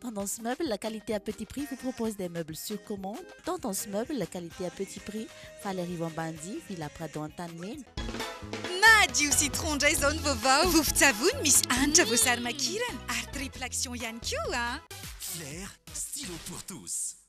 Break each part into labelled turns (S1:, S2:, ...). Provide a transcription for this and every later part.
S1: Tendance Meubles, qualité à petit prix, vous propose des meubles sur commande. Tendance Meubles, qualité à petit prix, faly arivo Ambanidia, Villa Prado Antanimena. Madio
S2: citron ndray izao ny vaovao. Vovon-tsavony misy hanitra voasary makirana ary triple action ihany koa. Flair,
S3: stylo pour tous.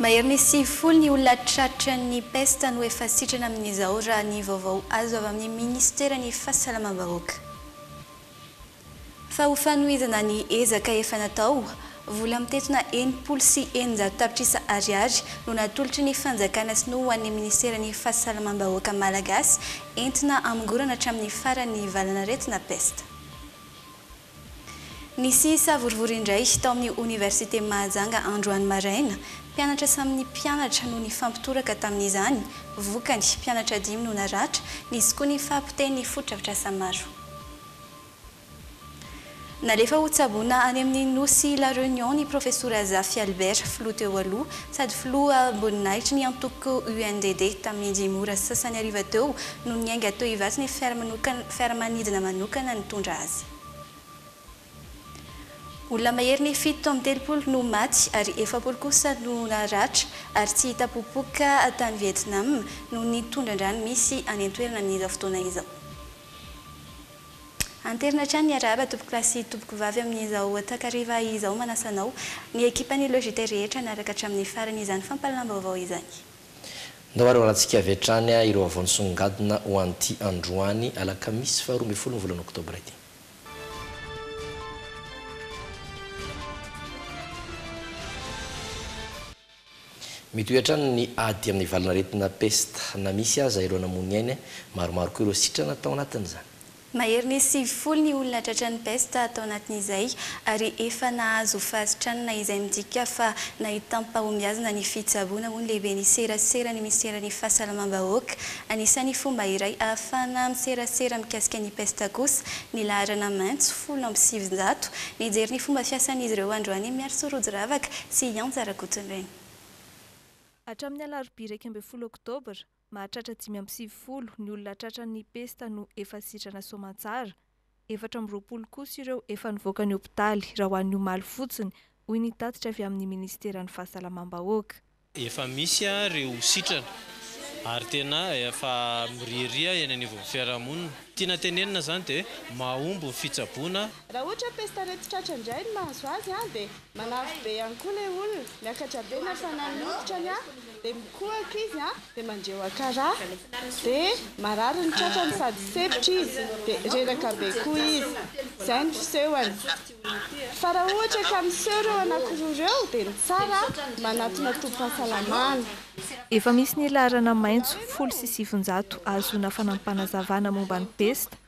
S4: Maherin'ny sivifolo ny olona tratran'ny pesta no efa sitrana amin'izao raha ny vaovao azo avy amin'ny minisiteran'ny Fahasalamam-bahoaka. Fa ho fanohizana ny ezaka efa natao, vola mitentina enimpolo sy eninjato tapitrisa ariary no natolotry ny fanjakana sinoa ho an'ny minisiteran'ny Fahasalamam-bahoaka malagasy entina hamongorana hatramin'ny faran'ny valan'aretina pesta. Nisy savorovoro indray tao amin'ny Oniversiten'i Mahajanga androany maraina. Mpianatra samy ny mpianatra no nifampitoraka tamin'izany. Vokany, mpianatra dimy no naratra, nisy koa ny fahapotehin'ny fotodrafitrasa maro. Nalefa ho tsaboina any amin'ny Nosy La Réunion ny Profesora Zafy Albert, filoha teo aloha sady filoha amboninahitry ny antoko UNDD tamin'ny dimy ora sasany hariva teo, no niainga teo ivatsy ny fiaramanidina manokana nitondra azy. Olona mahery ny fito tamin'ny telopolo no maty ary efapolo kosa no naratra ary tsy hita popoka tany Vietnam noho ny tondran-drano misy any an-toerana amin'izao fotoana izao. Anterina hatrany ny arahaba tompoko lahy sy tompoko vavy amin'izao takariva izao manasa anao, ny ekipan'ny Logiter rehetra hanaraka hatramin'ny farany izany fampahalalam-baovao izany. Ndao ary
S5: hoalantsika avy hatrany ireo vaovao nisongadina ho an'ity androany alakamisy faharoa ambin'ny folo ny volana oktobra ity. Mitohy hatrany ny ady amin'ny valin'aretina pesta. Na misy aza ireo namoy ny ainy, maromaro koa ireo sitrana tao anatin'izany. Mahery ny
S4: sivifolo ny olona tratran'ny pesta tao anatin'izay ary efa nahazo fahasitranana izay midika fa nahitam-pahombiazana ny fitsaboana hoy ny lehiben'ny serasera ny minisiteran'ny fahasalamam-bahoaka. Anisan'ny fomba iray ahafahana miserasera mikasika ny pesta kosa ny laharana maitso folo amby sivinjato. Nijery ny fomba fiasan'izy ireo androany Miarso Rojiravaka sy Ianja Rakotonireny.
S6: Hatramin'ny alarobia iraika ambin'ny folo oktobra, Mahatratra dimy amby sivifolo ny olona tratran'ny pesta no efa sitrana soamantsara, efatra amby roapolo kosa ireo efa nivoaka ny hopitaly raha ho an'ny omaly fotsiny, hoy ny tatitra avy amin'ny Ministeran'ny Fahasalamam-bahoaka. Efa misy
S7: ary ireo sitrana ary tena efa miriaria eny anivon'ny fiarahamonina. Tiana tenenina izany dia mahomby ny fitsaboana. Raha ohatra hoe pesta
S8: reti-tratra indray no mahazo azy dia Manavy be ihany koa ilay olona, miakatra be ny hafanan'ny hoditrany an, dia mikohaka izy an, dia mandre wakara, dia marary ny tratrany sady sempotra izy, dia reraka be koa izy. Izay ny fisehony. Fa raha ohatra ka miseho ireo anankiroa ireo dia ny tsara an, manatona tobim-pahasalamana. Efa
S6: misy ny laharana maitso folo sy sivinjato ahazoana fanampanazavana momba ny pesta,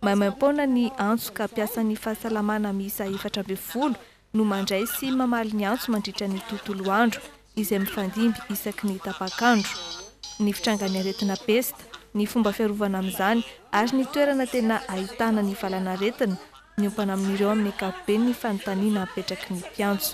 S6: Maimaim-poana ny antso ka mpiasan'ny fahasalamana miisa efatra ambin'ny folo no mandray sy mamaly ny antso mandritra ny tontolo andro izay mifandimby isaky ny tapak'andro. Ny fitrangan'ny aretina pesta, ny fomba fiarovana amin'izany ary ny toerana tena ahitana ny valanaretina, miompana amin'ireo amin'ny ankapobeny ny fanontaniana apetraky ny mpiantso.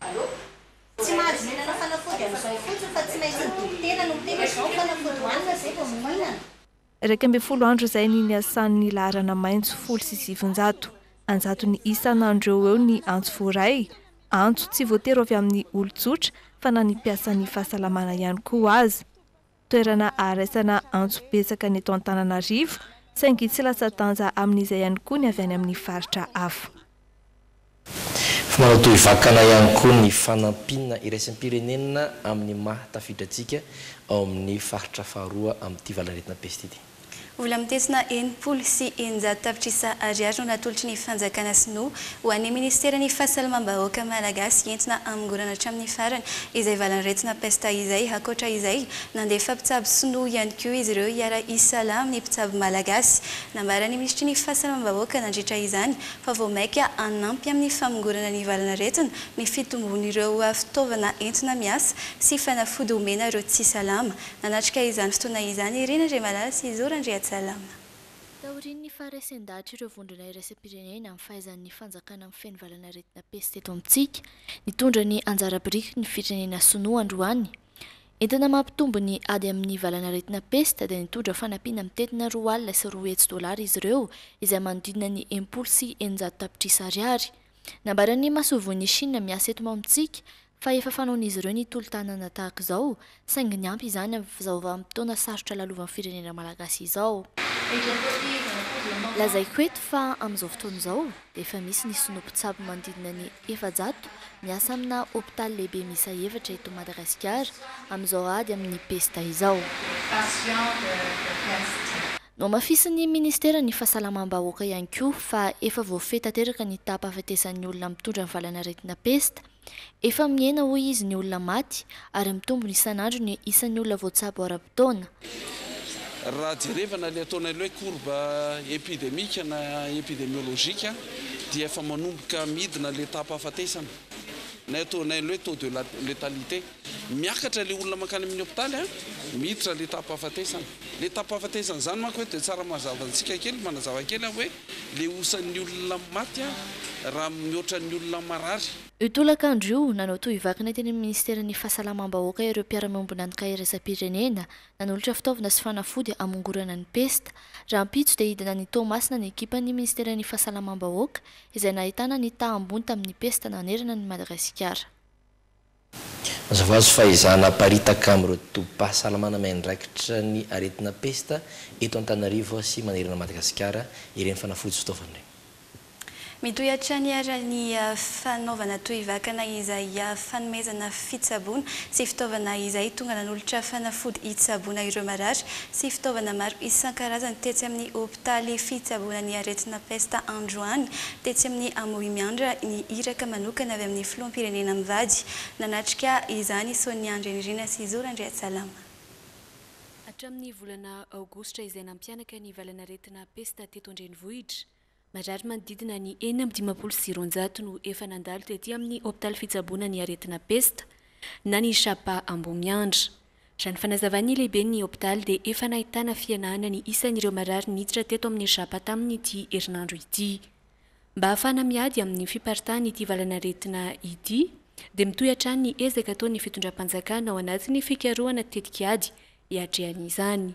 S9: Allo. Tsy mahazo mihinana fanafody amin'izao fotsiny fa tsy maintsy ny dokotera no miteny hoe izao ny fanafody hohanina izay vao mihinana. Iraika ambin'ny folo
S6: andro izay ny niasan'ny laharana maitso folo sy sivinjato. An-jatony isan'andro eo ho eo ny antso voaray. Antso tsy voatery ho avy amin'ny olon-tsotra fa na ny mpiasan'ny fahasalamana ihany koa aza. toerana aharesana antso betsaka ny eto Antananarivo, saingy tsy latsa-danja amin'izay ihany koa ny avy any amin'ny faritra hafa. Fa
S5: manao toy vakana ihany koa ny fanampiana iraisam-pirenena amin'ny maha tafiditra antsika ao amin'ny faritra faharoa amin'ity valanaretina peste ity. Vola mitesina
S4: enimpolo sy eninjato tapitrisa ariary no natolotry ny fanjakana sinoa ho an'ny minisiteran'ny fahasalamam-bahoaka malagasy entina hamongorana hatramin'ny farany izay valan'aretina pesta izay. Ankoatra izay, nandefa mpitsabo sinoa ihany koa izy ireo hiara-hisalahy amin'ny mpitsabo malagasy. Nambaran'ny minisitry ny fahasalamam-bahoaka nandritra izany fa vao mainka hanampy amin'ny famongorana ny valan'aretina ny fitombon'ireo fitaovana entina miasa sy fanafody homena ireo tsy salama Nanatrika izany fotoana izany ery Nandriamalala sy Zo Randriatsalama. Taorian'ny
S10: faharesen-dahatr'ireo vondrona iraisam-pirenena amin'ny fahaizan'ny fanjakana mifehy ny valan'aretina pesta eto amintsika, nitondra ny anjara biriky ny firenena sinoa androany. Entina mampitombo ny ady amin'ny valan'aretina pesta dia nitondra fanampiana mitentina roa alina sy roa hetsy dolara izy ireo izay manodidina ny enimpolo sy eninjato tapitrisa ariary. Nambaran'ny masoivohon'i Chine miasa eto amintsika fa efa fanaon'izy ireo ny tolo-tanana tahaka izao, saingy ny ampy izany amin'izao vanim-potoana sarotra lalovan'ny firenena malagasy izao. Lazaiko eto fa amin'izao fotoana izao dia efa misy ny sinoa mpitsabo manodidina ny efajato miasa amina hopitaly lehibe miisa efatra eto Madagasikara amin'izao ady amin'ny pesta izao. Nohamafisin'ny ministeran'ny fahasalamam-bahoaka ihany koa fa efa voafehy tanteraka ny taham-pahafatesan'ny olona mitondra ny valan'aretina pesta, Efa mihena hoy izy ny olona maty ary mitombona isan'andro ny isan'ny olona voatsabo ara-potoana.
S11: Raha jerevana ilay ataonay hoe courbe epidemique na epidemiologique dia efa manomboka midina ilay taham-pahafatesana na ataonay hoe taux de letalité. Miakatra ilay olona mankany amin'ny hopitaly a, miditra ilay taham-pahafatesana. Ilay taham-pahafatesana izany manko eto dia tsara mazava antsika kely, manazava kely aho hoe ilay osan'ny olona maty a, raha mihoatra ny olona marary. Io tolakandro io,
S10: nanao tohivakana teny amin'ny Ministeran'ny Fahasalamam-bahoaka ireo mpiara-miombon'antoka iraisam-pirenena, nanolotra fitaovana sy fanafody hamongorana ny pesta. Rahampitso dia hidina any Toamasina ny ekipan'ny Ministeran'ny Fahasalamam-bahoaka izay nahitana ny taha ambony tamin'ny pesta nanerana an'i Madagasikara.
S5: Mazava ho azy fa izaho naparitaka amin'ireo tobim-pahasalamana miandraikitra ny aretina pesta eto Antananarivo sy manerana an'i Madagasikara ireny fanafody sy fitaovana ireny. Mitohy
S4: hatrany ary ny fanaovana tohivakana izay fanomezana fitsaboana sy fitaovana izay tonga nanolotra fanafody hitsaboana ireo marary sy fitaovana maro isan-karazany tetsy amin'ny Taly fitsaboana ny aretina pesta androany, tetsy amin'ny Amoy Miandra, ny iraka manokana avy amin'ny filoham-pirenena mivady. Nanatrika izany i Sonia Andrianirina sy Zoro Andriatsalama.
S12: Hatramin'ny volana aogositra izay nampihanaka ny valanaretina pesta teto an-drenivohitra, marary manodidina ny enina amby dimampolo sy roanjato no efa nandalo tety amin'ny hopitaly fitsaboana ny aretina pesta na ny Shapa Ambohimiandra. Raha ny fanazavan'ny lehiben'ny hopitaly dia efa nahitana fihenana ny isan'ireo marary niditra teto amin'ny Japa tamin'ity herinandro ity. Mba hahafahana miady amin'ny fiparitahan'ity valanaretina ity dia mitohy hatrany ny ezaka ataon'ny fitondram-panjakana ao anatin'ny fikarohana tetik'ady hiatrehana izany.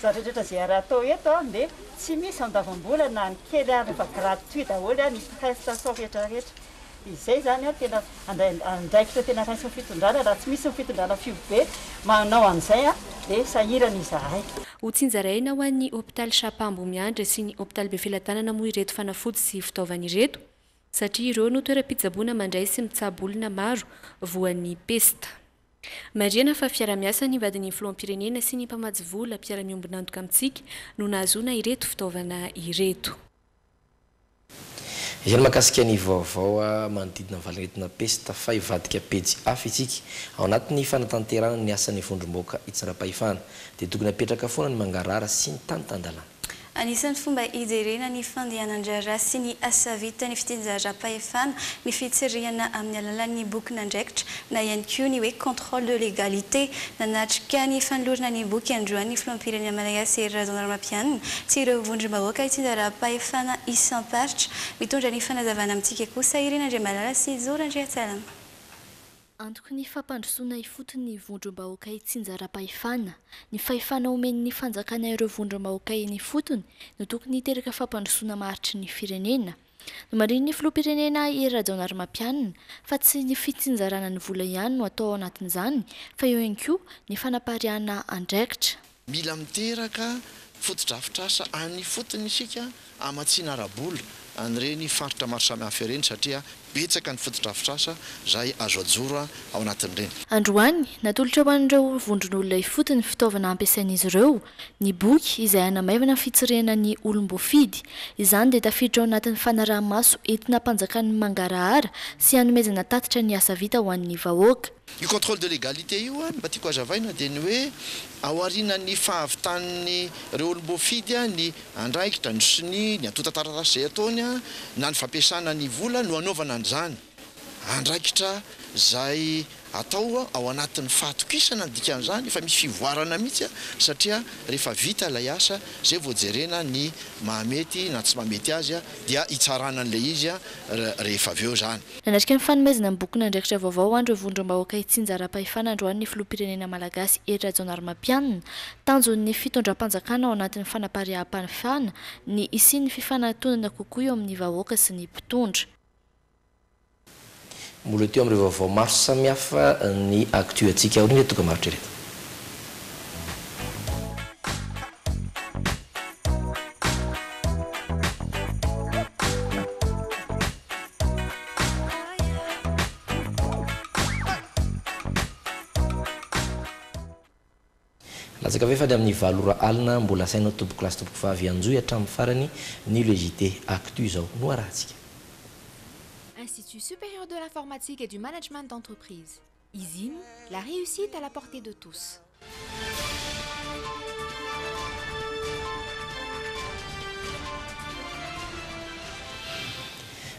S13: Zatra rehetra izay ary atao eto dia tsy misy andavam-bola na ny kely ary fa gratuit daholo ny prestation rehetra rehetra. Izay izany no tena andraikitra tena raisin'ny fitondrana raha tsy misy ny fitondrana fihobe manao an'izay dia sahirana izahay. Ho tsinjaraina
S12: ho an'ny hopitaly Shapa Ambohimiandra sy ny hopitaly Befelatanana moa ireto fanafody sy fitaovana ireto satria ireo no toeram-pitsaboana mandray sy mitsabo olona maro voan'ny pesta. Marihana fa fiarahamiasan'ny vadin'ny filoham-pirenena sy ny mpamatsy vola mpiara-miombon'antoka amintsika no nahazoana ireto fitaovana ireto. Izay
S5: ny mahakasika ny vaovao manodidina ny valin'aretina pesta fa hivadika pejy hafa isika. Ao anatin'ny fanatanterahana ny asan'ny vondrom-bahoaka hitsindram-pahefana dia tokony hapetraka foana ny mangarahara sy ny tany tan-dalàna. Anisan'ny fomba
S4: hijerena ny fandehanan-draharaha sy ny asa vitan'ny fitsinjaram-pahefana ny fitsirihana amin'ny alalan'ny bokin'andraikitra na ihany koa ny hoe contrôle de légalité. Nanatrika ny fanolorana ny boky androany ny filoham-pirenena malagasy Hery Rajaonarimampianina sy ireo vondrom-bahoaka itsinjaram-pahefana isam-paritra. Mitondra ny fanazavana amintsika kosa i Rina Andriamalala sy Zo Randriantsalama.
S10: Antoky ny fampandrosoana ifotony ny vondrom-bahoaka itsinjaram-pahefana. Ny fahefana omen'ny fanjakana ireo vondrom-bahoaka eny ifotony no tokony hiteraka fampandrosoana maharitry ny firenena. Nomarihin'ny filoham-pirenena Hery Rajaonarimampianina fa tsy ny fitsinjarana ny vola ihany no atao ao anatin'izany fa eo ihany koa ny fanapariahana andraikitra. Mila miteraka
S14: fotodrafitrasa any ifotony isika hamatsiana ara-bola an'ireny faritra maro samihafa ireny satria betsaka ny fotodrafitrasa izay azo ajoro ao anatin'ireny. Androany,
S10: natolotra ho an'ireo vondron'olona ifotony fitaovana hampiasain'izy ireo, ny boky izay hanamaivana ny fitsirihana ny olom-boafidy. Izany dia tafiditra ao anatin'ny fanaraha-maso entina hampanjakan'ny mangarahara sy hanomezana tatitra ny asa vita ho an'ny vahoaka. Io contrôle de
S14: légalité io an, mba tiako hazavaina dia ny hoe ao aorianan'ny fahavitan'ny ireo olom-boafidy an, ny andraikitra, ny sonia, ny antontan-taratasy izay ataony an, na ny fampiasana ny vola no anaovana an'izany. Andraikitra izay atao an, ao anatin'ny fahatokisana ny dikan'izany, efa misy fivoarana mihitsy an, satria rehefa vita ilay asa, izay vao jerena ny mahamety na tsy mahamety azy an, dia hitsarana an'ilay izy an, rehefa avy eo izany. Nanatrika ny fanomezana
S10: ny bokin'andraikitra vaovao ho an'ireo vondrom-bahoaka hitsinjaram-pahefana androany ny filoham-pirenena malagasy Hery Rajaonarimampianina. Tanjon'ny fitondram-panjakana ao anatin'ny fanapariaham-panefana ny hisian'ny fifanatonana kokoa eo amin'ny vahoaka sy ny mpitondra.
S5: Mbola ety amin'ireo vaovao maro samihafa ny Actu antsika, aorian'ireto dokam-barotra ireto. Latsaka ve fa ny amin'ny valo ora alina mbola asainao tompoko lahy sy tompoko vavy hanjohy hatramin'ny farany ny le JT actu izao no arahantsika.
S15: Institut supérieur de l'informatique et du management d'entreprise. Izim, la réussite à la portée de tous.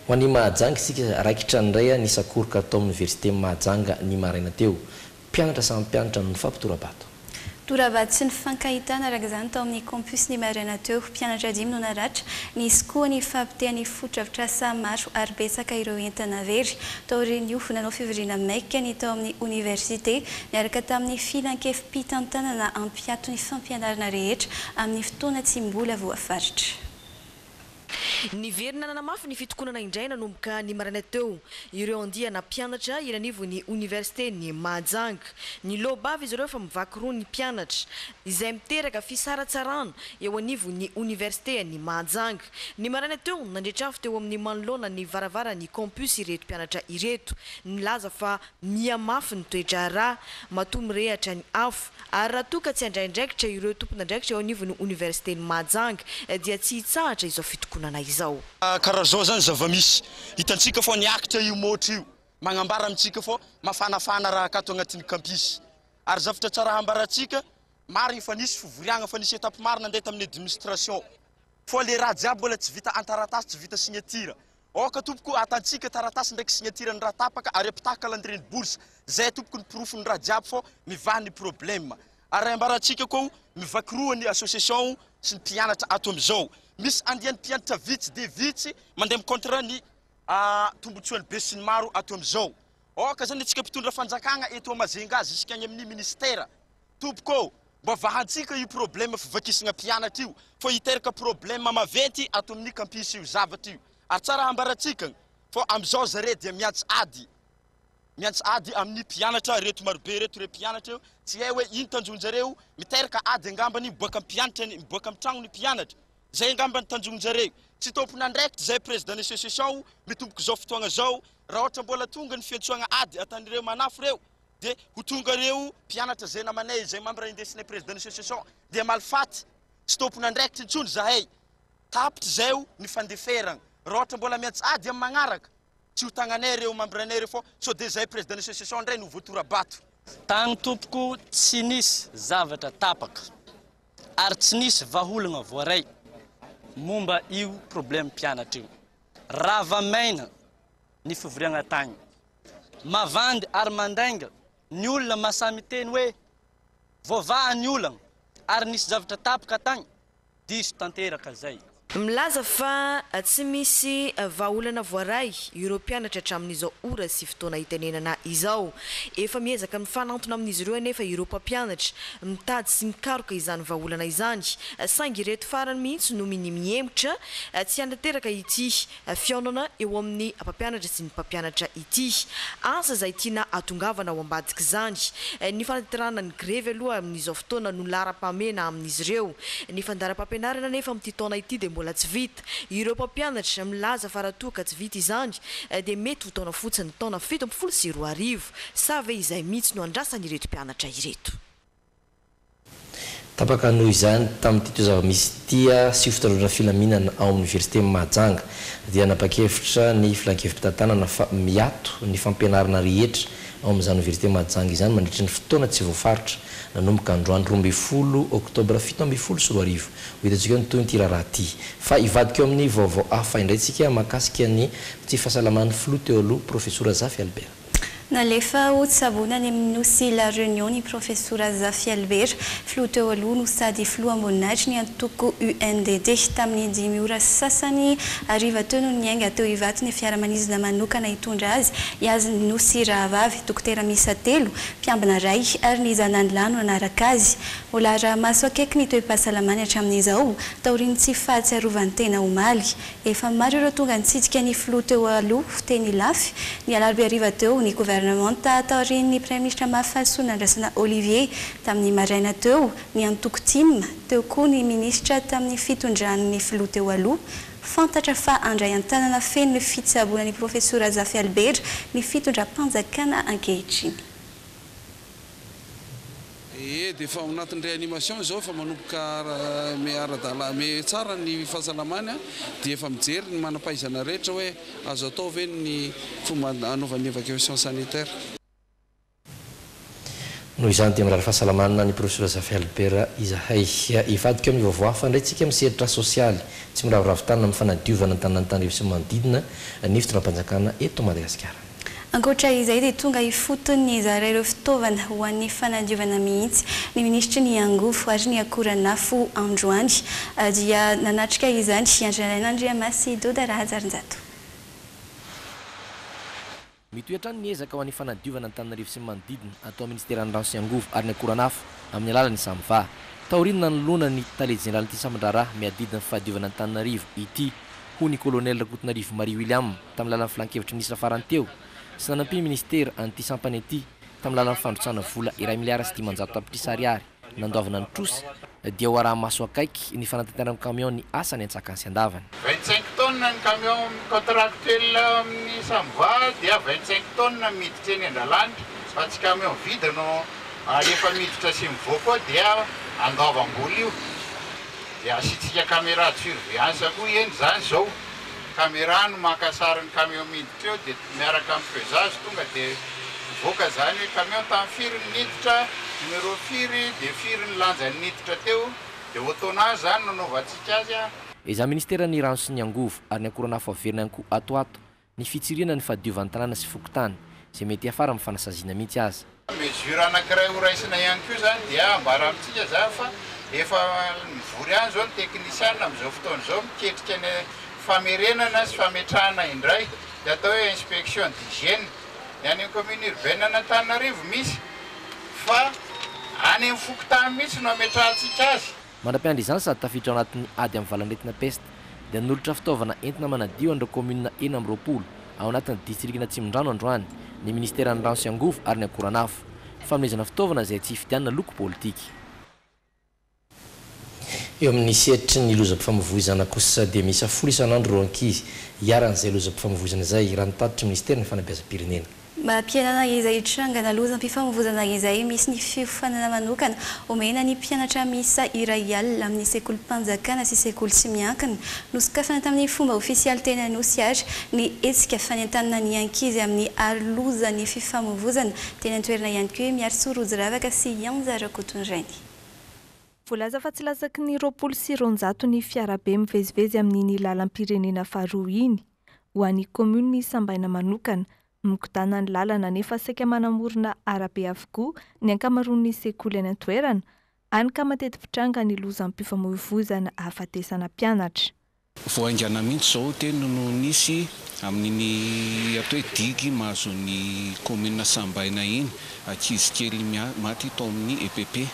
S5: Ho an'i Mahajanga isika raikitra nindray ny sakoroka tao amin'ny Université Mahajanga ny maraina teo. Mpianatra samy mpianatra no nifampitora-bato. Tora-bato sy
S4: nifankahitana araka izany tao amin'ny campus ny maraina teo. Mpianatra dimy no naratra. Nisy koa ny fahapotehan'ny fotodrafitrasa maro ary betsaka ireo entana very. Taorian'io, nanao fivoriana maika ny tao amin'ny oniversite niaraka tamin'ny filankevi-pitantanana hampiato ny fampianarana rehetra amin'ny fotoana tsy mbola voafaritra. Niverina
S16: nanamafy ny fitokonana indray nanomboka ny maraina teo ireo andiana mpianatra eny anivon'ny Oniversiten'i Mahajanga. Niloa-bava izy ireo fa mivaky roa ny mpianatra, izay miteraka fisaratsarana eo anivon'ny Oniversiten'i Mahajanga. Ny maraina teo, nandre-trafo teo amin'ny manoloana ny varavaran'ny Campus ireto mpianatra ireto, nilaza fa. Miha mafy ny toe-draharaha matoa mirehatra ny afo ary raha toa ka tsy handray andraikitra ireo tompon'andraikitra eo anivon'ny Oniversiten'i Mahajanga dia tsy hitsahatra izao fitokonana izao. Karaha zao zany
S17: zavamisy hitantsika fa niakitra io môtro io magnambara amintsika fa mafanafana raha akato agnatin'ny kampisy ary zavatra tsara hambarantsika marigny fa nisy fivoriagna fa nisy etape maro nandeha tamin'ny administration fa le raha jiaby mbola tsy vita antaratasy tsy vita signature Aoka tompoko hatantsika taratasy ndraiky signature ny raha tapaka ary ampitaha calendrier ny bourse zay tompoko ny porofo ny raha jiaby fô mivaha ny problème. Ary ambarantsika koa mivaky roa ny association sy ny mpianatra ato amizao. Misy andiany mpianatra vitsy dia vitsy mandeha am contre ny tombotsoany be sy ny maro ato amizao. Aoka zany atsika mpitondra fanjakagna eto Majunga zisika any aminy ministère. Tompoko ô! Mba vahantsika io problème fivakisana mpianatra io fa hiteraka problème maventy ato amin'ny campus io zavatra io ary tsara hambarantsika fa amizao zare dia miantsy ady miantsy ady amin'ny mpianatra reto marobe reto re mpianatra eo tsy hay hoe ino tanjonjareo miteraka ady angambany miboaka am mpianatra ny miboaka am tragno ny mpianatra zay angambany tanjonjareo tsy tompon'andraikitra zay président ny association mitombok'izao fotoagna zao raha ohatra mbola tonga ny fiantsoagna ady atan'ireo manafo reo dia ho tonga ireo mpianatra izay namanay izay mambra indesinay président ny association dia malifaty tsy tompon'andraikitra intsony izahay tapitra izay ho ny fandeferana raha ohatra mbola miantsady amin'ny magnaraka tsy ho tagnanay ireo mambra anay ireo fao sao dia izahay président ny association indray no voatora-bato tagny tompoko
S18: tsy nisy zavatra tapaka ary tsy nisy vaholagna voaray momba io problème mpianatra io rava maina ny fivoriagna tagny. Mavandy ary mandainga ny olona masaha miteny hoe voavaha ny olagna ary nisy zavatra tapaka tagny, diso tanteraka zay. Milaza fa
S16: tsy misy vahaolana voaray ireo mpianatra hatramin'izao ora sy fotoana itenenana izao. Efa miezaka mifanantona amin'izy ireo anefa ireo mpampianatra, mitady sy mikaroka izany vahaolana izany, saingy ireto farany mihitsy no minia-mihemotra tsy hanateraka ity fihaonana eo amin'ny mpampianatra sy ny mpampianatra ity asa izay tiana hatongavana ao ambadik'izany. Ny fanatanterahana ny grevy aloha amin'izao fotoana no laharam-pahamehana amin'izy ireo. Ny fandaharam-pampianarana anefa amin'ity taona ity dia mbola tsy vita. Ireo mpampianatra milaza fa raha toa ka tsy vita izany dia mety ho taona fotsiny, taona fito ambin'ny folo sy roa arivo. Sa ve izay mihitsy no andrasan'ireto mpianatra ireto?
S5: Tapaka noho izany, tamin'ity toe-zava-misy ity sy io fitandroana filaminana ao amin'ny Oniversiten'i Mahajanga dia nanapa-kevitra ny Filan-kevi-pitantanana fa miato ny fampianarana rehetra ao amin'izany Oniversite Mahajanga izany mandritry ny fotoana tsy voafaritra nanomboka androany roa ambin'ny folo oktobra fito ambin'ny folo sy roa arivo. Ho hitantsika eo ny tohin'ity raharaha ity fa hivadika eo amin'ny vaovao hafa indray isika mahakasika ny tsy fahasalaman'ny Filoha teo aloha Profesora Zafy Albert. Nalefa ho
S4: tsaboina any amin'ny nosy La Réunion ny Profesora Zafy Albert, filoha teo aloha no sady filoham-boninahitrin'ny antoko UNDD, tamin'ny dimy ora sy sasany hariva teo no niainga teo Ivato ny fiaramanidina manokana hitondra azy, iazy ny nosy rahavavy, dokotera miisa telo, mpiambina iray ary ny zanany lahy no nanaraka azy. Mbola araha-maso akaiky ny toe-pahasalamany hatramin'izao, taorian'ny tsy fahatsiarovan-tena omaly. Efa maro ireo tonga nitsidika ny filoha teo aloha, teny Ilafy, ny alarobia hariva teo. Ny governemanta taorian'ny praiminisitra mafy fahalosoa nandrasana Olivier tamin'ny maraina teo, ny antoko Tim. Teo koa ny minisitra tamin'ny fitondran'ny filoha teo aloha. Fantatra fa handray an-tanana feno ny fitsaboana an'i Profesora Zafy Albert ny fitondram-panjakana ankehitriny.
S11: Ee, dia efa ao anatin'ny réanimation izao, efa manomboka ara-dalàna, me tsara ny fahasalamany, dia efa mijery ny manam-pahaizana rehetra hoe azo atao ve ny fomba hanaovany évacuation sanitaire.
S5: Noho izany dia mirary fahasalamana an'i Profesora Zafy Albert izahay. Hivadika amin'ny vaovao hafa indray isika amin'ny sehatry sosialy. Tsy miraviravy tanana amin'ny fanadiovana ny tanàn'Antananarivo sy ny manodidina ny fitondram-panjakana eto Madagasikara. Ankoatra izay
S4: dia tonga ifotony nizara ireo fitaovana ho an'ny fanadiovana mihitsy ny minisitry ny angovo ary ny akoranafo androany dia nanatrika izany i Andry Nalaina Andriamasy Doda Rahajarinjato.
S5: Mitohy hatrany ny ezaka ho an'ny fanadiovana Antananarivo sy ny manodidina atao minisiteran'ny rano sy angovo ary ny akoranafo amin'ny alalan'ny Samva. Taorian'ny nanoloana ny tale jeneralin'ity sambon-draharaha miadidy ny fahadiovana Antananarivo ity hoy ny Kolonely Rakotonarivo Marie William tamin'ny lalan'ny Filan-kevitry ny Minisitra farany teo sy nanampian'ny Minisitera an'ity sampana ity tamin'ny lalan'ny fandrotsahana vola iray miliara sy dimanjato tapitrisa ariary nandoavana ny trosa dia ho araha-maso akaiky ny fanatanteran'ny kamiao ny asany antsakany sy andavany. Vingt-cinq tonnes ny
S19: kamiao mi-contractuel amin'ny Samva dia vingt-cinq tonnes miditra eny an-dalanitra fa tsy kamiao vide no ary efa miditra sy mivoaka ao dia andoavam-bola io. Dia asiantsika camera de surveillance koa hieny izany izao. Camera no maka sary ny camion miditra eo dia miaraka amin'ny pesage tonga dia mivoaka izany hoe camion tamin'ny firy ny niditra, numéro firy, dia firy ny lanjany niditra teo. Dia au tonnage izany no anaovantsika azy an. Ezaha ministeran'ny
S5: rano sy ny angovo ary ny akora nafo averina ihany koa ato ho ato. Ny fitsiriana ny fahadiovan tanàna sy fokontany, izay mety hiafara amin'ny fanasaziana mihitsy aza. Mesure anankiray
S19: ho raisina ihany koa izany dia ambara amintsika izany fa efa mivory ihany izao ny teknisiana amin'izao fotoana izao miketrika ny famerenana sy fametrahana indray dia atao hoe inspection d'hygiène ny any amin'ny commune urbaine an'Antananarivo misy fa any amin'ny fokontany mihitsy no ametrahantsika azy. Mandra-piandry izany sady
S5: tafiditra ao anatin'ny ady amin'ny valan'aretina pesta, dia nanolotra fitaovana entina manadio an'ireo kaominina enina amby roapolo ao anatin'ny distrikan' Atsimondrano androany ny minisiteran'ny Rano sy Angovo ary ny Akoranafo. Fanomezana fitaovana izay tsy hifidianana loko politika. Eo amin'ny sehatry ny lozam-pifamoivoizana kosa dia miisa folo isan'andro ireo ankizy hiharan'izay lozam-pifamoivoizana izay, raha ny tatitry ny minisiteran'ny Fanabeazam-pirenena.
S4: Mampihenana izay hitrangana lozam-pifamoivoizana izay misy ny fiofanana manokana omena ny mpianatra miisa iray alina amin'ny sekolim-panjakana sy sekoly tsy miankina. Nosokafana tamin'ny fomba ofisialy teny Anosy àry ny hetsika fanentanana ny ankizy amin'ny aro loza ny fifamoivoizana. Teny an-toerana ihany koa i Miarisoa Rojiravaka sy i Anja Rakotondrainy.
S6: Voalaza fa tsy latsaky ny roapolo sy roanjato ny fiarabe mivezivezy amin'iny lalam-pirenena faharoa iny. ho an'ny kaominina isambaina manokana. Migodàna ny lalana nefa saika manamorona arabe avokoa ny ankamaroan'ny sekoly any an-toerana, hany ka matety mitranga ny lozam-pifamoivoizana ahafatesana mpianatra. Vao haingana
S20: mihitsy izao teny no nisy amin'iny atao hoe digue mahazo ny kaominina sambaina iny, ankizy kely maty tao amin'ny EPP.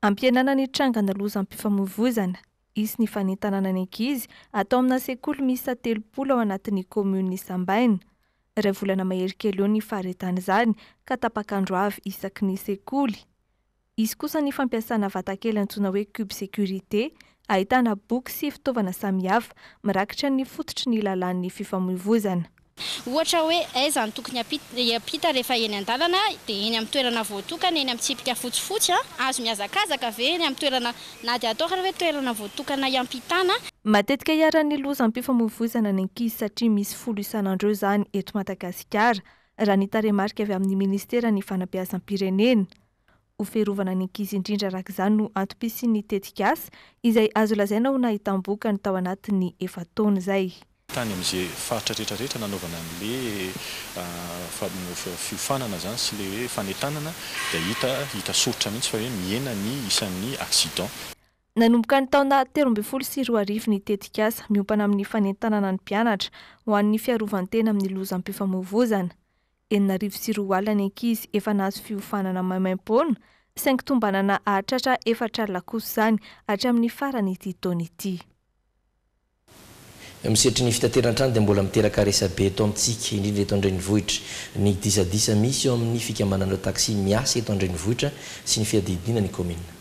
S20: Ampihenana ny
S6: trangana lozam-pifamoivoizana Hisy ny fanentanana ny ankizy atao amina sekoly miisa telopolo ao anatin'ny kaominina Isambaina. Iray volana mahery kely eo ny faharetan'izany ka tapak'andro avy isaky ny sekoly. Hisy kosa ny fampiasana vatakely antsoina hoe cube sécurité ahitana boky sy fitaovana samihafa mirakitra ny fototry ny lalàn'ny fifamoivozana. Ohatra hoe
S1: aiza no tokony hiampita rehefa eny an-dalana, dia eny amin'ny toerana voatokana eny amin'ny tsipika fotsifotsy an! Azo mihazakazaka ve eny amin'ny toerana na dia atao ary hoe toerana voatokana hiampitana? Matetika iharan'ny
S6: lozam-pifamoivoizana ny ankizy satria misy folo isan'andro eo izany eto Madagasikara, raha ny tarehimarika avy amin'ny Ministeran'ny Fanabeazam-pirenena. Ho fiarovana ny ankizy indrindra araka izany no antom-pisian'ny tetikasa izay azo lazaina ho nahitam-bokany tao anatin'ny efa-taona izay. Tany amin'izay
S21: faritra rehetra rehetra nanaovana an'ilay fiofanana izany sy ilay hoe fanentanana dia hita hita soritra mihitsy fa hoe mihena ny isan'ny accident. Nanomboka
S6: ny taona telo ambin'ny folo sy roa arivo ny tetikasa miompana amin'ny fanentanana ny mpianatra ho an'ny fiarovan-tena amin'ny lozam-pifamoivoizana. enina arivo sy roa alina ny ankizy efa nahazo fiofanana maimaim-poana, saingy tombanana hahatratra efatra alina kosa izany hatramin'ny faran'ity taona ity.
S5: Eo amin'ny sehatry ny fitateran-trano dia mbola miteraka resabe eto amintsika, indrindra eto an-drenivohitra, ny disadisa misy eo amin'ny fikambanan'ireo taxi miasa eto an-drenivohitra sy ny fiadidiana ny kaominina.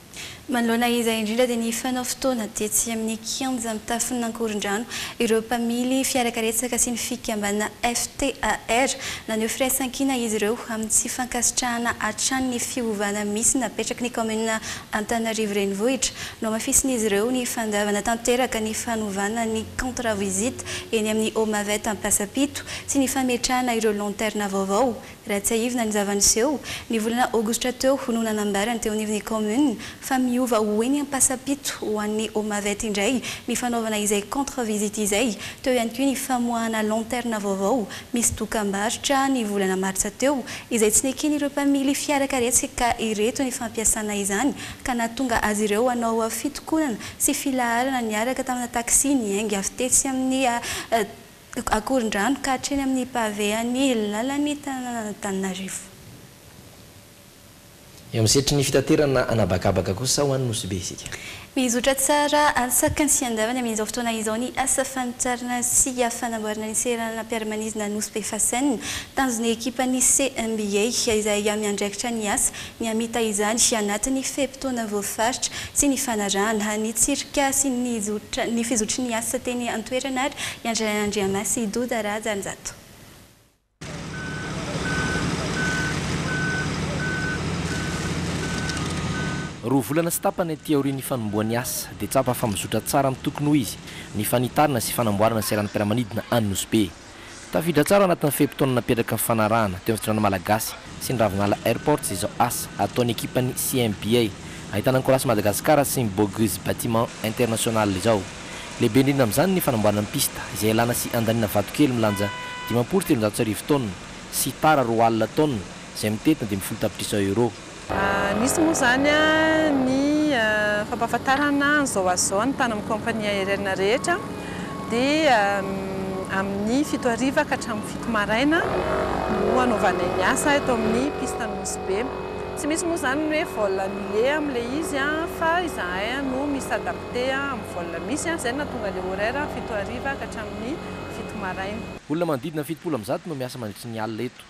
S5: Manoloana izay
S4: indrindra dia nifanao fotoana tetsy amin'ny kianja mitafon'Ankorondrano ireo mpamily fiarakaretsaka sy ny fikambanana FTAR. Naneho firaisankina izy ireo amin'ny tsy fankasitrahana hatrany ny fiovana misy napetraky ny kaominina Antananarivo Renivohitra. Nohamafisin'izy ireo ny fandavana tanteraka ny fanovana ny contrat visite eny amin'ny Homavet Ampasapito sy ny fametrahana ireo lanterne vaovao Raha tsiahivina ny zava-niseho, ny volana Aogositra teo no nanambara teo anivon'ny kaominina fa miova ho eny Ampasampito ho an'ny Homavet indray ny fanaovana izay contre-visite izay. Teo ihany koa ny famoahana lanterne vaovao misy dokam-barotra ny volana Martsa teo izay tsy neken'ireo mpamily fiara karetsy ka ireto ny fampiasana izany ka nahatonga azy ireo hanao fitokonana sy filaharana niaraka tamina taxi niainga avy tetsy amin'ny Akorondrano ka hatreny amin'ny pavé an'ny lalan'ny tanànan'Antananarivo.
S5: Eo amin'ny setry ny fitaterana anabakabaka kosa ho an'ny Nosy Be isika. Mizotra tsara
S4: antsaky ny fiandavany amin'izao fotoana izao ny asa fanitarana sy fanamboarana ny seranam-piaramanidina Nosy Be Fasen. Tanjon'ny ekipan'ny CMBA izay miandraikitra ny asa Mihamita izany anatin'ny fe-potoana voafaritra sy nifanarahana ny tsirika sy ny fizotry ny asa teny an-toerana ary i Andriana Andriamasy sy i Doda Rajanjato.
S5: Roa volana sy tapany aty aorian'ny fanombohan'ny asa dia tsapa fa mizotra tsara amin'ny tokony ho izy ny fanitarana sy fanamboarana seranam-piaramanidina any Nosy Be. Tafiditra tsara ao anatin'ny fe-potoana napetraka nifanarahana teo amin'ny Fitondrana Malagasy sy ny Ravinala Airports izao asa ataon'ny ekipan'ny CMBA ahitana ny Colas Madagascar sy ny Bogus Bâtiment International izao. Lehibe indrindra amin'izany ny fanamboarana ny pista izay ialana sy andaniana vatokely milanja dimampolo sy telonjato sy arivo taonina sy tara roa alina taonina izay mitety ny dimy folo tapitrisa euros. Nisy moa
S22: izany ny fampahafantarana an'izao azy izao ny tany amin'ny kaompania aerienina rehetra dia amin'ny fito hariva ka hatramin'ny fito maraina no hanaovanay ny asa eto amin'ny piste Nosy Be. Tsy misy moa izany ny hoe vol annulé amin'ilay izy fa izahay no mi s'adapter amin'ny vol misy, izay no nahatonga ilay horaire fito hariva ka hatramin'ny fito maraina. Olona manodidina fitopolo
S5: amin'ny zato no miasa mandritry ny alina eto.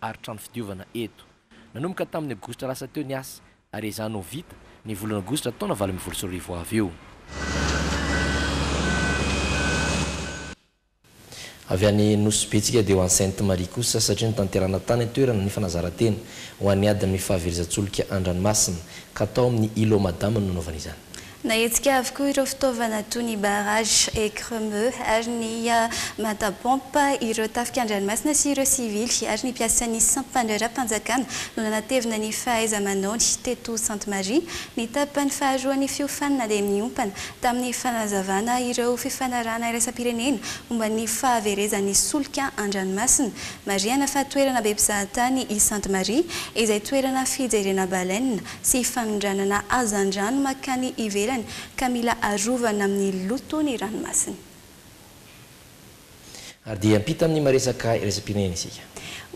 S5: ary trano fidiovana eto. Nanomboka tamin'ny Aogositra lasa teo ny asa, ary ezaho ny ho vita, ny volana Aogositra taona valo ambin'ny folo sy roa arivo ho avy eo. Avy any Nosy Be tsika dia ho any Sainte Marie kosa, satria notanterahana tany an-toerana ny fanazarantena ho an'ny adin'ny fahaverezan-tsolika an-dranomasina, ka tao amin'ny Îlot Madame no nanaovana izany. Nahetsika avokoa
S4: ireo fitaovana toy ny barrage, écremeux, ary ny mata pompe, ireo tafika an-dranomasina sy ireo sivily ary ny mpiasan'ny sampan-draharaham-panjakana no nanatevina ny fahaiza-manaony teto Sainte Marie ny tapany faharoan'ny fiofanana dia miompana tamin'ny fanazavana ireo fifanarahana iraisam-pirenena momba ny fahaverezan'ny solika an-dranomasina. Marihana fa toerana be mpizahatany i Sainte Marie izay toerana fijerena baleine sy fanondranana hazandrano mankany ivelany ka mila arovana amin'ny loto ny ranomasina.
S5: Ary dia hiampita amin'ny maresaka iraisam-pirenena isika.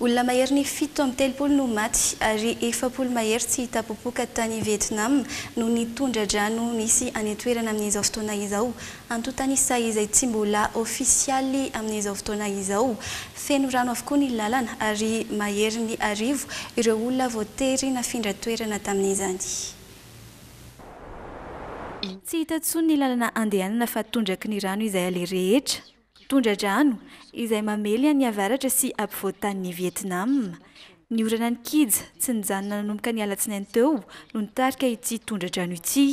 S5: Olona mahery ny
S4: fito amby telopolo no maty ary efapolo mahery tsy hita popoka tany Vietnam noho ny tondra-drano misy any an-toerana amin'izao fotoana izao Antontan'isa izay tsy mbola ofisialy amin'izao fotoana izao. Feno rano avokoa ny lalana ary mahery ny arivo ireo olona voatery nafindra toerana tamin'izany.
S2: Tsy hita intsony ny lalana andehanana fa tondraky ny rano izay aleha rehetra. Tondra-drano izay mamely an'i avaratra sy ampovoan-tanin'i Vietnam. Ny orana nikija tsy nijanona nanomboka ny alatsinainy teo no nitarika ity tondra-drano ity.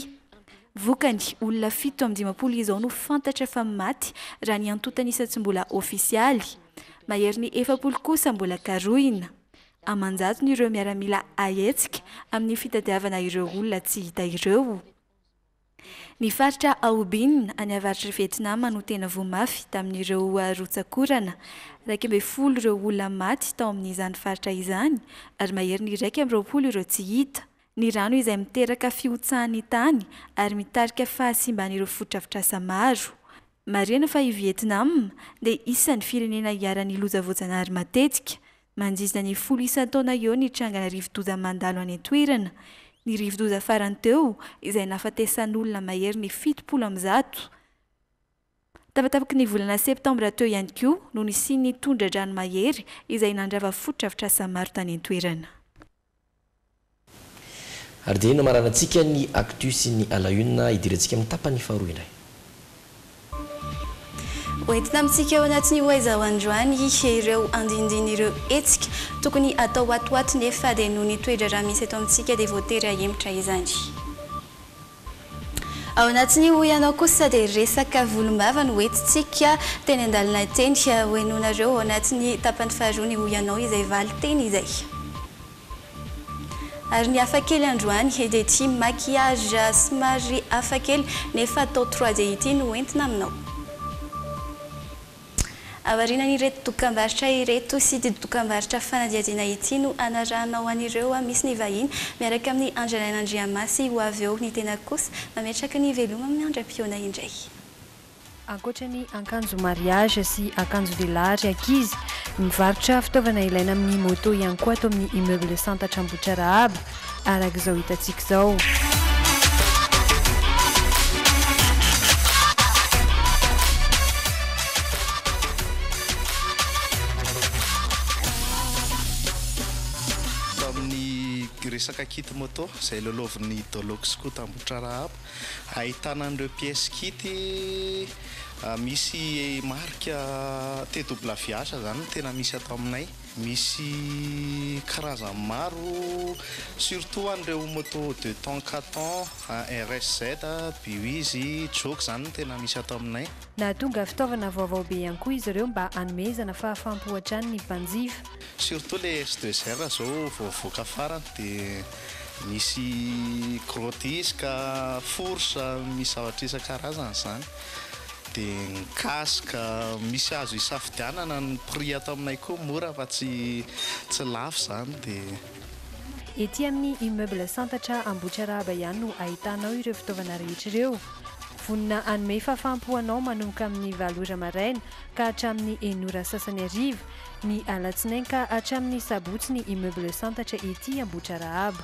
S2: Vokany, olona fito amin'ny dimampolo izao no fantatra fa maty raha ny antontan'isa tsy mbola ofisialy. Maherin'ny efapolo kosa mbola karohina. Aman-jatony ireo miaramila ahetsika amin'ny fitadiavana ireo olona tsy hita ireo. Ny faritra Ao Binh any avaritr'i Vietnam no tena voa mafy tamin'ireo rotsak'orana. Iraika ambin'ny folo ireo olona maty tao amin'izany faritra izany ary maherin'ny iraika amby roapolo ireo tsy hita. ny rano izay miteraka fihotsahan'ny tany ary mitarika fahasimban'ireo fotodrafitrasa maro. Marihana fa i Vietnam dia isan'ny firenena iharan'ny loza voajanahary matetika. Manjizina ny folo isan-taona eo ny trangana rivodoza mandalo any an-toerana. Ny rivodoza farany teo izay nahafatesan'olona maherin'ny fitopolo amby zato. Tapatapaky ny volana septambra teo ihany koa no nisian'ny tondra-drano mahery izay nandrava fotodrafitrasa maro tany an-toerana.
S5: Ary dia iny no hamaranantsika ny actu sy ny à la une, hidirantsika amin'ny tapany faharoa indray.
S4: Ho entina amintsika ao anatin'io Hoaiza ho androany ireo andinindin'ireo hetsika tokony hatao ato ho ato nefa dia noho ny toe-draharaha misy eto amintsika dia voatery hahemotra izany. Ao anatin'io hoy ianao kosa dia resaka volombava no entintsika teny an-dalana teny. Hohenoinareo ao anatin'ny tapany faharoa ny hoy ianao izay valin-teny izay. Ary ny hafa kely androany dia ity maquillage somary hafa kely nefa atao trois D ity no entina aminao. Aorianan'ireto dokambarotra ireto sy ity dokambarotra fanadihadiana ity no anarahanao an'ireo misy ny vahiny miaraka amin'ny Andrialaina Andriamasy ho avy eo, ny tena kosa mametraka ny veloma amin'ny andram-pihaona indray.
S3: Ankoatra ny akanjo mariage sy akanjo lehilahy ary ankizy, mivarotra fitaovana ilaina amin'ny moto ihany koa ato amin'ny Immeuble Santatra Ambohitrarahaba. araka izao hitantsika izao.
S23: resaka kit moto izay lolovin'ny Dolox koa tambotra rahaba ahitana an'ireo pièces kit ah, misy marika TWH zany tena misy ato aminay Misy karazany maro, surtout ho an'ireo moto deux temps, quatre temps, RSZ, Buiz, Joke izany no tena misy ato aminay. Nahatonga fitaovana
S3: vaovao be ihany koa izy ireo mba hanomezana fahafam-po hatrany ny mpanjifa. Surtout ilay
S23: S deux R izao vao nivoaka farany dia misy gros disque, fourche, misy zavatra isan-karazany izany. Dia ny cas ka misy azo hisafidianana ny prix ato aminay koa mora fa tsy tsy lafo izany dia.
S3: Ety amin'ny immeuble Santatra Ambohitrarahaba ihany no ahitanao ireo fitaovana rehetra ireo. Vonona hanome fahafaham-po anao manomboka amin'ny valo ora maraina ka hatramin'ny enina ora sasany hariva, ny alatsinainy ka hatramin'ny sabotsy ny immeuble Santatra ety Ambohitrarahaba.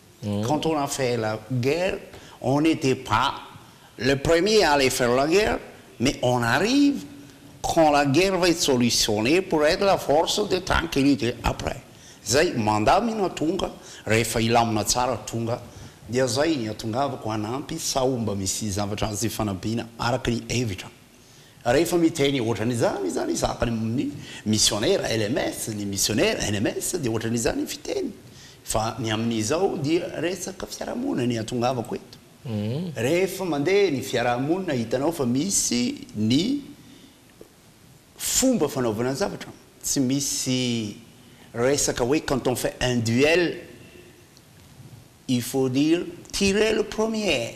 S7: Quand on a fait la guerre on n'etait pas le premier à aller faire la guerre mais on arrive quand la guerre va être solutionnee pour être la force de tranquillite après zay mandamina tonga rehefa hilamina tsara tonga dia zay ny hatongavako hanampy sao mba misy zavatra azo ifanampiana araka ny hevitra Rehefa miteny ohatrany izany izany sahaka ny amin'ny misionera LMS, ny misionera NMS dia ohatrany izany ny fiteny fa ny amin'izao dia resaka fiarahamonina ny atongavako eto. Rehefa mandeha ny fiarahamonina hitanao fa misy ny fomba fanaovana zavatra, tsy misy resaka hoe quand on fait un duel il faut dire tirer le premier.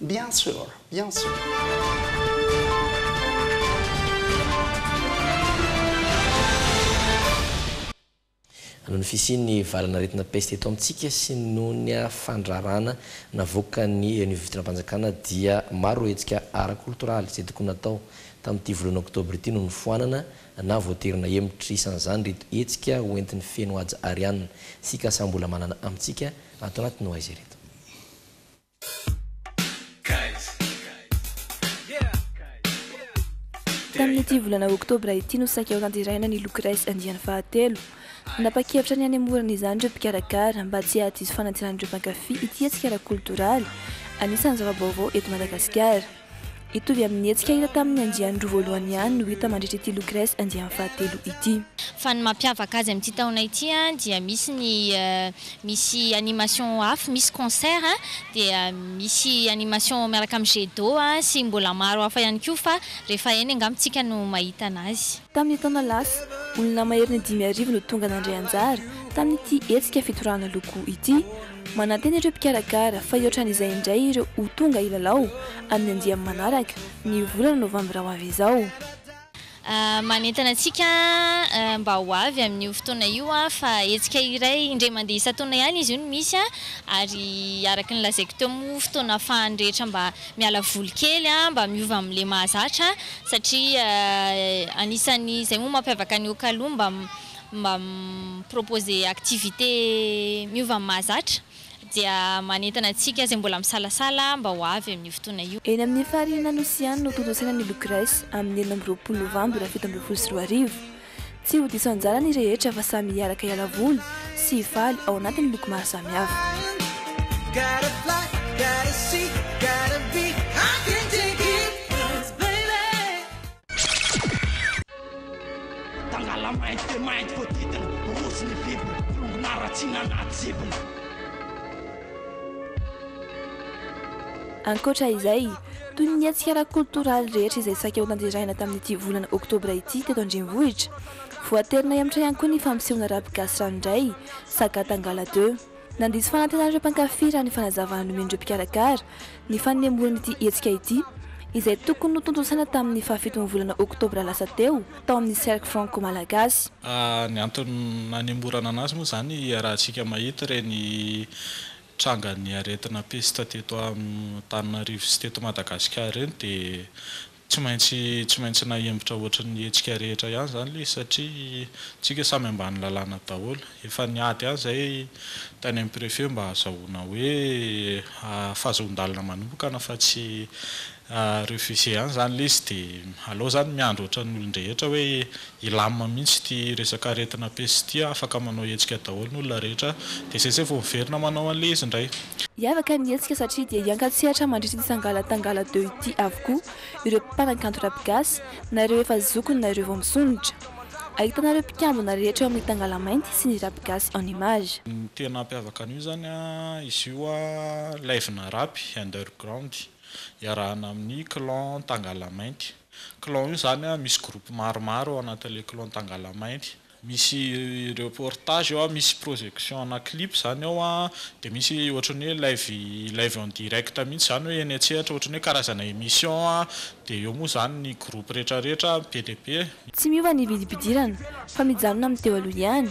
S7: Bien sur, bien sur.
S5: Noho ny fisian'ny valan'aretina peste eto amintsika sy noho ny fandrarana navoakan'ny ny vivontonam-panjakana dia maro ireo hetsika ara-koltoraly izay tokony natao tamin'ity voalohan'ny oktobra ity no nofoanana na voatery nahemotra. Isan'izany ireto hetsika ho entin'ny feno haja arianina sy kasam-bola manana amintsika ato anatin'ny ho aiza ireto.
S2: Tamin'ity volana oktobra ity no saika hotanteraina ny Look Race andiany fahatelo. Nanapa-kevitra ny hanemorana izany ireo mpikarakara mba tsy hahadiso fanantenan'ireo mpankafy ity hetsika ara-koltoraly anisan'ny zava-baovao eto Madagasikara. Hitovy amin'ny hetsika hita tamin'ny andiany roa voalohany ihany no hita mandritra ity Lucrèce andiany fahatelo ity. Fa ny mampiavaka
S8: azy amin'ity taona ity dia misy ny misy animation hafa, misy concert dia misy animation miaraka amin'ny jet d'eau sy mbola maro hafa ihany koa fa rehefa eny angamba isika no mahita an'azy. Tamin'ny taona lasa,
S2: olona maherin'ny dimy arivo no tonga nandray anjara tamin'ity hetsika fitorahana loko ity. Manantena ireo mpikarakara fa hihoatran'izay indray ireo ho tonga hilalao amin'ny andiany manaraka, ny volana novambra ho avy izao.
S8: Manentana antsika mba ho avy amin'io fotoana io fa hetsika iray indray mandeha isan-taona ihany izy io no misy ary araka ny lazaiko teo moa fotoana ahafahan'ny rehetra mba miala voly kely, mba miova amin'ilay mahazatra satria anisan'ny izay moa mampiavaka an'i Okalo mba mba mi-proposer activité miova amin'ny mahazatra dia manentana antsika izay mbola misalasala mba ho avy amin'io fotoana io. Eny amin'ny Farihina Nosy
S2: ihany no tontosaina ny Locres amin'ny enina amby roapolo Novambra fito ambin'ny folo sy roa arivo. Tsy ho diso anjara ny rehetra fa samy hiaraka hiala voly sy hifaly ao anatin'ny loko maro samihafa. Tangala mainty dia mainty voadidina rojo ny bibina Rongony haratsiana anaty zibina. Ankoatra izay, toy ny hetsika ara-koltoraly rehetra izay saika ho tanterahina tamin'ity volana oktobra ity teto an-drenivohitra, voatery nahemotra ihany koa ny fampisehoana Rap Gasy Ranoray, Saga Tangala deux. Nandiso fanantenana ireo mpankafy raha ny fanazavana nomen'ireo mpikarakara ny fanembohan'ity hetsika ity, izay tokony notontosaina tamin'ny fahafiton'ny volana oktobra lasa teo, tao amin'ny Cercle Franco-Malagasy. Ny antony
S21: nanemborana anazy moa izany iarahantsika mahita ireny trangan'ny aretina pesta teto Antananarivo sy teto Madagasikara ireny dia Tsy maintsy tsy maintsy nahembotra ohatry ny hetsika rehetra ihany izany ilay izy satria isika samy ambany lalàna daholo. Efa niady ihany izahay tany amin'ny préfet mba hahazahoana hoe fahazoan-dalana manompokana fa tsy refuser ihany izany ilay izy dia alao izany miandry ohatran'ny olon-drehetra hoe Ilam mihitsy ity resaka aretina peste ity a, afaka manao hetsika daholo ny olona rehetra dia sese vao miverina manao an'ilay izy indray. Hiavaka ny hetsika
S2: satria dia hiankatsehatra mandritra ity Sangalatangala deux ity avokoa ireo mpanakanto rap gasy na ireo efa zokiny na ireo vao misondrotra. Ahitana ireo mpikambana rehetra eo amin'ny Tangalamanty sy ny rap gasy en image. Ny tena hampiavaka
S21: an'io izany a, izy io a live-na rap underground iarahana amin'ny clan Tangalamainty. Clan io zany a misy groupe maromaro ao anatin'le clan Tangalamainty. Misy reportage ao a, misy projection ana clip zany ao a, de misy ohatrany hoe live live en direct mihitsy zany hoe eny an-tsehatra ohatrany hoe karazana emission a, de eo moa zany ny groupe retraretra be dia be. Tsy miova ny
S2: vidim-pidirana fa mijanona amin'ny teo aloha ihany,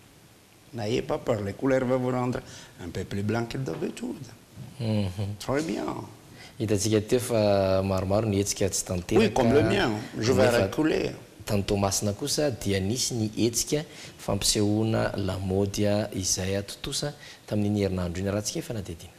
S7: N'ayez pas peur, les couleurs va vous rendre un peu plus blanc que d'habitude. Très bien. Hitantsika teo fa maromaro ny hetsika tsy tanteraka, Oui, comme le mien, je vais nefa reculer. tany Toamasina
S5: kosa dia nisy ny hetsika fampisehoana lamaody izay atontosa tamin'iny herinandro iny raha tsy efa nadihadiana.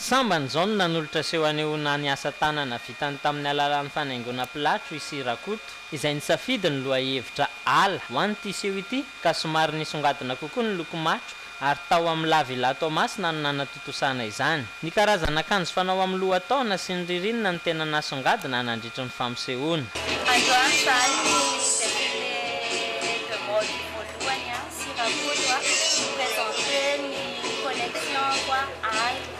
S10: Sambany izao no nanolotra seho hanehoana ny asa tanana vitany tamin'ny alalan'ny fanaingoana pilatro i Sy Rakoto, izay nisafidy ny lohahevitra ala ho an'ity seho ity ka somary nisongadina kokoa ny loko matro ary tao amin'ny La Villa Toamasina no nanatontosana izany. Ny karazana akanjo fanao amin'ny lohataona sy ny ririnina no tena nasongadina nandritry ny fampisehoana. Androany izahay no défilé de mode
S12: voalohany sy raha koa no hi-presenter ny collection-ko àry.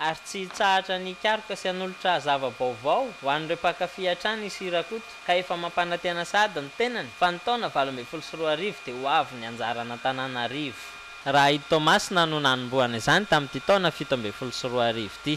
S10: ary tsy hitsahatra ny hikaroka sy hanolotra zava-baovao ho an'ireo mpankafy hatrany i Sy Rakoto ka efa mampanantena sahady ny tenany fa ny taona valo ambin'ny folo sy roa arivo dia ho avy ny anjaran'Antananarivo. Raha i Toamasina no nanombohana izany tamin'ity taona fito ambin'ny folo sy roa arivo ity.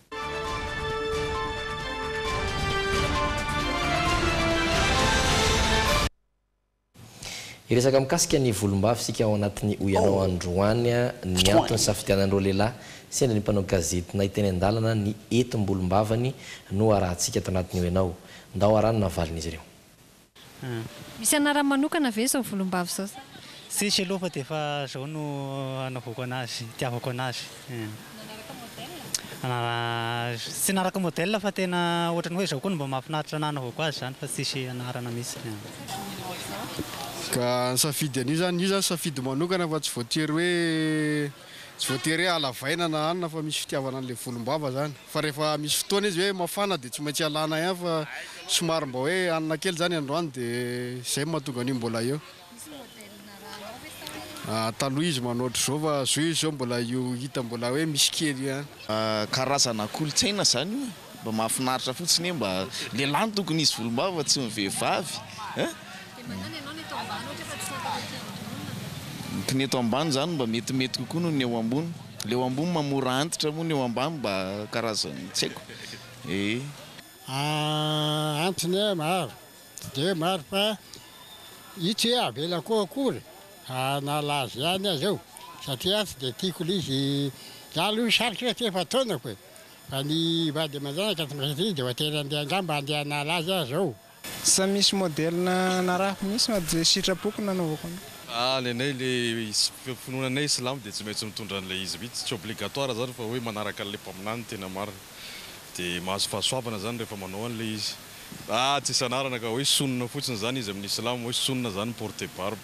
S5: Hiresaka mikasika ny volombava isika ao anatin'ny Hoy Ianao androany. Ny antony nisafidianan'ireo lehilahy sendra ny mpanao gazety nahay teny an-dalana ny hetim-bolombavany no arahantsika ato anatin'ny Hoy Ianao. Ndao araho ny navalin'izy ireo.
S3: Misy anarany manokana ve izao volombava izao sa? Tsisy aloha fa
S13: dia efa izao no anaovako anazy, itiavako anazy. Nanaraka modèle? Tsy nanaraka modèle fa tena ohatran'ny hoe izao koa no mba mahafinaritra ny anaovako azy izany fa tsisy anarana mihitsy. Ka
S14: nisafidy an'io izany, io izany safidy manokana fa tsy voatery hoe. Tsy voatery hoe halavaina na hanina fa misy fitiavana an'ilay volombava izany. Fa rehefa misy fotoana izy hoe mafana dia tsy maintsy alana ihany fa somary mba hoe hanina kely izany androany dia izay no mahatonga an'io mbola eo. Misy modèle narahanao ve sa hoe. Taloha izy manao ohatr'izao fa zao izy izao mbola io hita mbola hoe misy kely ihany. Karazana
S24: kolontsaina izany io e. Mba mahafinaritra fotsiny e mba lehilahy no tokony hisy volombava fa tsy ny vehivavy ny pneu eto ambany zany mba metimety kokoa noho ny eo ambony le eo ambony mba mora antitra moa ny eo ambany mba karazany tsy haiko e Ah
S25: antony e maro tsy dia maro fa itsy hoe avela koa akory hanala azy ihany aza eo satria aho tsy dia tiako le izy za aloha sarotra satria efa taonako e. Fa ny vady aman-janaka aty Brezily dia voatery handeha angamba handeha hanala azy aho izao.
S26: Sa
S25: misy
S26: modèle narahako mihitsy no dia sitrapoko
S25: no
S26: nanaovako an'io? Ah
S14: ny anay le finoana anay silamo dia tsy maintsy mitondra an'ilay izy mihitsy, tsy obligatoire izany fa hoe manaraka an'ilay mpaminany no tena marina. Dia mahazo fahasoavana izany rehefa manao an'ilay izy. Ah tsy isan'arana ka hoe sunna fotsiny izany izy amin'ny silamo hoe sunna izany mi-porter barbe.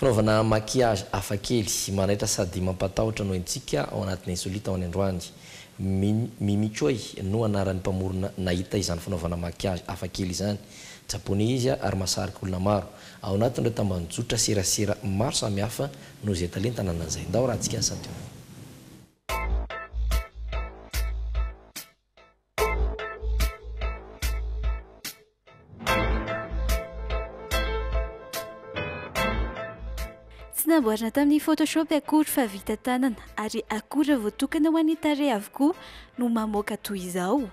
S5: Fanaovana maquillage hafakely, manaitra sady mampatahotra no entintsika ao anatin'ny Insolite ho an'ny androany. Mimi Choi no anaran'ny mpamorona nahita izany fanaovana maquillage hafakely izany. Japoney izy ary mahasarika olona maro. Ao anatin'ireo tambanjotra serasera maro samihafa no izay talenta nananan'izay. Ndao raha tsika sady ho.
S2: Tsy namboarina tamin'ny Photoshop akory fa vita tanana ary akora voatokana ho an'ny tarehy avokoa no mamoaka toy izao.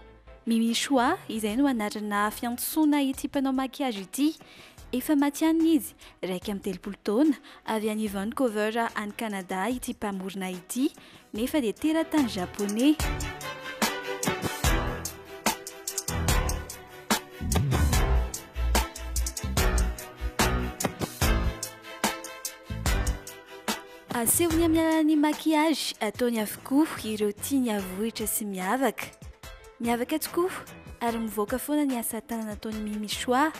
S2: Mimi Chua, izay no anarana fiantsoana ity mpanao maquillage ity. Efa matihanina izy, iraika amby telopolo taona, avy any Vancouver any Canada ity mpamorona ity, nefa dia teratany Japoney. Asehony amin'ny alalan'ny maquillage ataony avokoa ireo tiany havohitra sy miavaka. Miavaka tokoa ary mivoaka foana ny asa tanana ataon'i Mimi Choix.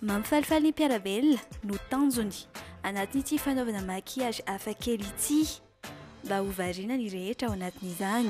S2: Mampifalifaly ny mpiara-belona no tanjony anatin'ity fanaovana maquillage hafakely ity mba ho variana ny rehetra ao anatin'izany.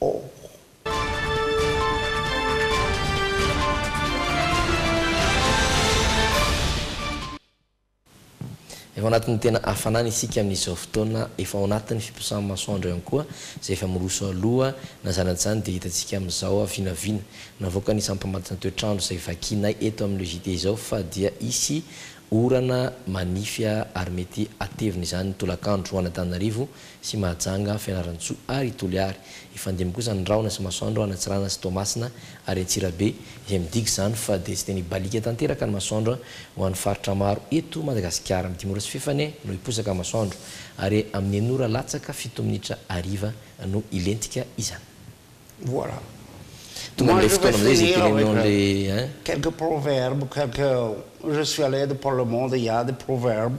S5: Or. Efa ao anatin'ny tena hafanana isika amin'izao fotoana, efa ao anatin'ny fiposahan'ny masoandro ihany koa izay efa miroso aloha, na izany na izany dia hitantsika amin'izao vinavina navoakan'ny isan'ny mpamatsy ny toetr'andro izay vakinay eto amin'ny le JT izao fa dia hisy orana manify ary mety hatevina izany ny tolakandro ho an'Antananarivo sy Mahajanga, Fianarantsoa ary i Toliary. Hifandimby kosa ny rahona sy Masoandro a, Anatsirana sy Toamasina ary Antsirabe, izay midika izany fa dia tsy dia mibaliaka tanteraka ny masoandro a, ho an'ny faritra maro eto Madagasikara. Amin'ny dimy ora sy fefany no hiposaka ny masoandro ary amin'ny enina ora latsaka fito minitra hariva no hilentika izany. Voilà.
S7: Tonga amin'ilay fotoana amin'izay izay tenenina an'ilay. Quelques proverbes, quelques, je suis à l'aide pour le monde, il y a des proverbes.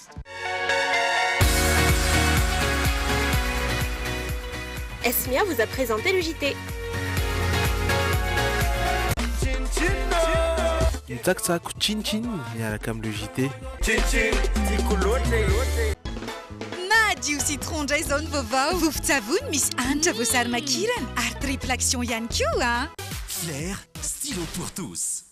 S15: Esmia vous a presente le JT.
S16: Mitsakitsako Chin Chin miaraka amin'ny Le JT. Chin Chin, tiako
S17: loatra e. Madio citron ndray zao ny vaovao. Vovon-tsavony misy hanitra voasary makirana ary triple action ihany koa an. Flair,
S18: stylo pour tous.